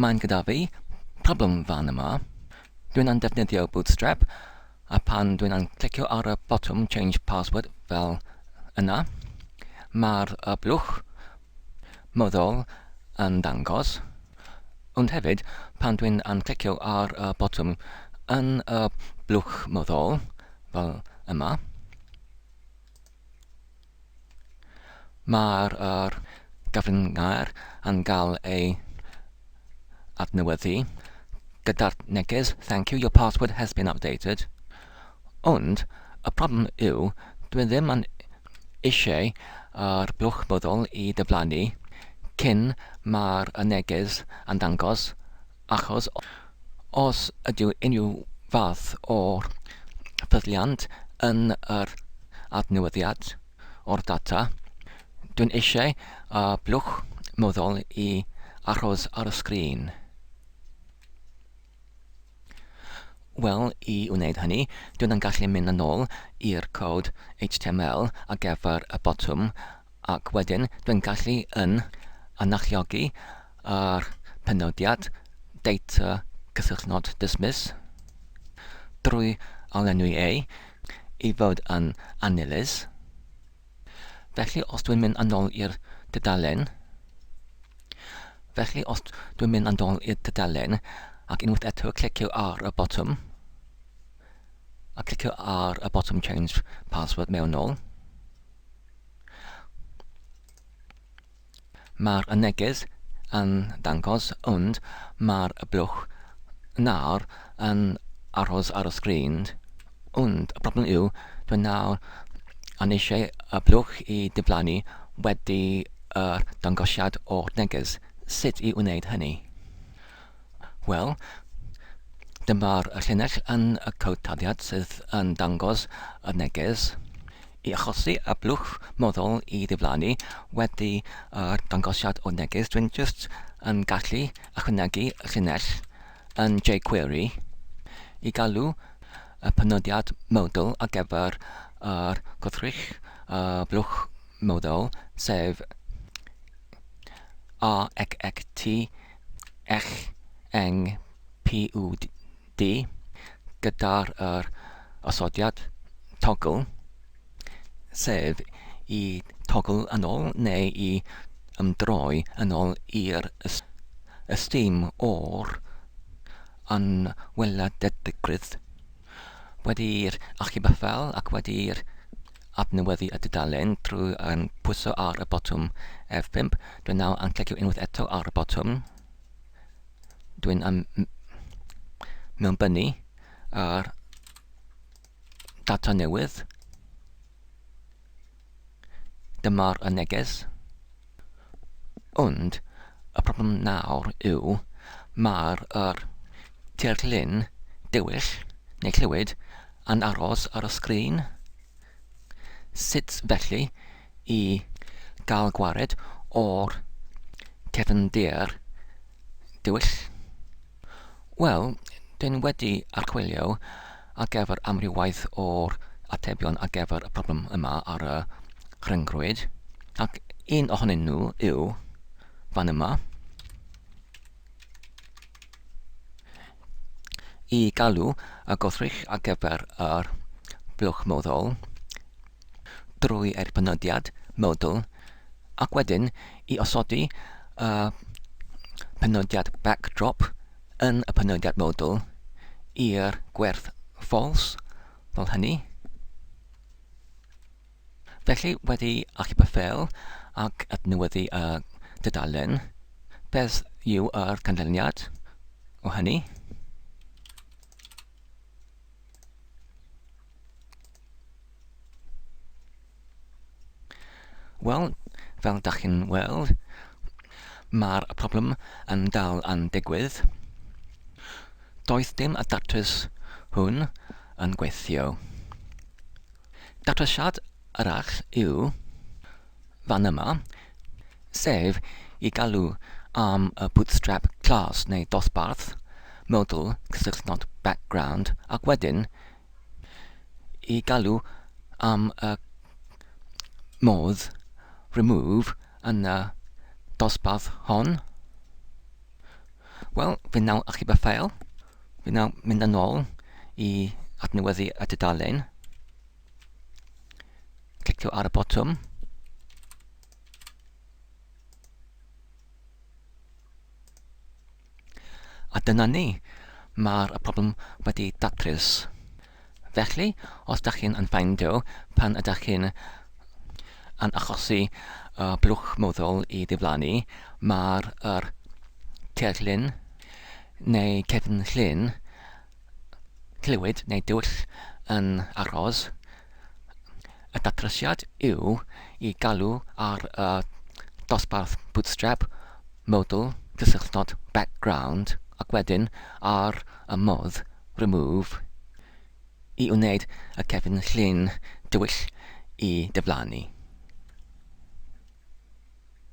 Mae'n gyda fi problem fan yma. Dwi'n yn defnyddio Bootstrap a pan dwi'n yn clicio ar y botwm change password fel yna, mae'r y blwch moddol yn dangos, ond hefyd pan dwi'n yn clicio ar y botwm yn y blwch moddol fel yma, Mae'r gyfryngau yn cael eu adnewyddu gyda'r neges Thank you, your password has been updated ond y problem yw dwi ddim yn eisiau i'r blwch byddol i diflannu cyn mae'r neges yn dangos achos os ydyw unrhyw fath o ffyddiant yn yr adnewyddiad o'r data, dwi'n eisiau y blwch meddwl i achos ar y sgrin. Wel, i wneud hynny, dwin yn gallu mynd yn ôl i'r cod HTML ar gyfer y botwm ac wedyn dwi'n gallu yn anachuogi a'r penodiad Data Cysylltnod Dismiss drwy alenwi ei i fod yn annilys. Felly os dwi'n mynd yn ôl i'r dudalen, felly os dwi'n mynd yn ôl i'r dudalen ac unwaith eto clicio ar y botwm, a clicio ar y botwm Change Password mewnol, Mae'r neges yn dangos ond mae'r blwch nawr yn aros ar y sgrin. Ond y problem yw, dwi nawr yn eisiau y blwch i diflannu wedi yr dangosiad o'r neges. Sut i wneud hynny? Wel, dyma'r llinell yn y cod taliad sydd yn dangos y neges i achosi y blwch moddol i ddiflannu wedi y dangosiad o'r neges. Dwi'n jyst yn gallu ychwanegu y llinell yn jQuery i galw y penodiad model ar gyfer yr gwrthrych y blwch moddol, sef AXXT eich eng PUD gyda'r yr osodiad togl, sef i togl yn ol neu i ymdroi yn ol i'r ystum o'r anweladeddigrwydd, wedi'r achubyfel ac wedi'r adnewyddu y dudalen drwy yn pwyso ar y botwm F5. Dwi'n nawr yn clicio unwaith eto ar y botwm. Dwi'n am mewnbynnu ar data newydd. Dyma'r y neges. Ond y problem nawr yw, mae'r yr tirlun dywyll, neu clywyd, yn aros ar y sgrin. Sut felly i gael gwared o'r cefndir dywyll? Wel, dyn wedi archwilio ar gyfer amrywaeth o'r atebion ar gyfer y problem yma ar y rhyngrwyd, ac un ohonyn nhw yw fan yma. I galw y gwrthrych ar gyfer yr blwch moddol, drwy erbynediad, modal, ac wedyn i osodi y penodiad backdrop yn y penodiad modal i'r gwerth false, fel hynny. Felly, wedi achub y ffeil ac adnewyddu y dudalen, beth yw yr canlyniad o hynny? Wel, fel da chi'n weld, mae'r problem yn dal yn digwydd. Doedd dim y datrys hwn yn gweithio. Datrisiad arall yw fan yma, sef i galw am y bootstrap class neu dosbarth, modwl, cysylltnod, background, ac wedyn i galw am y modd remove yn y dosbarth hon. Wel, fi nawr achub y ffeil. Fi nawr mynd yn ôl i adnewyddu y tudalen. Clicio ar y botwm. A dyna ni, mae'r problem wedi datrys. Felly, os da chi'n anffeindio pan ydych chi'n yn achosi uh, blwch moddol i ddiflannu, mae'r er tirllun neu cefn llun clywed neu dull yn aros, y datrysiad yw i galw ar y dosbarth Bootstrap, Modal, Cysylltnod, Background, ac wedyn ar y modd Remove i wneud y cefn llun dywyll i diflannu.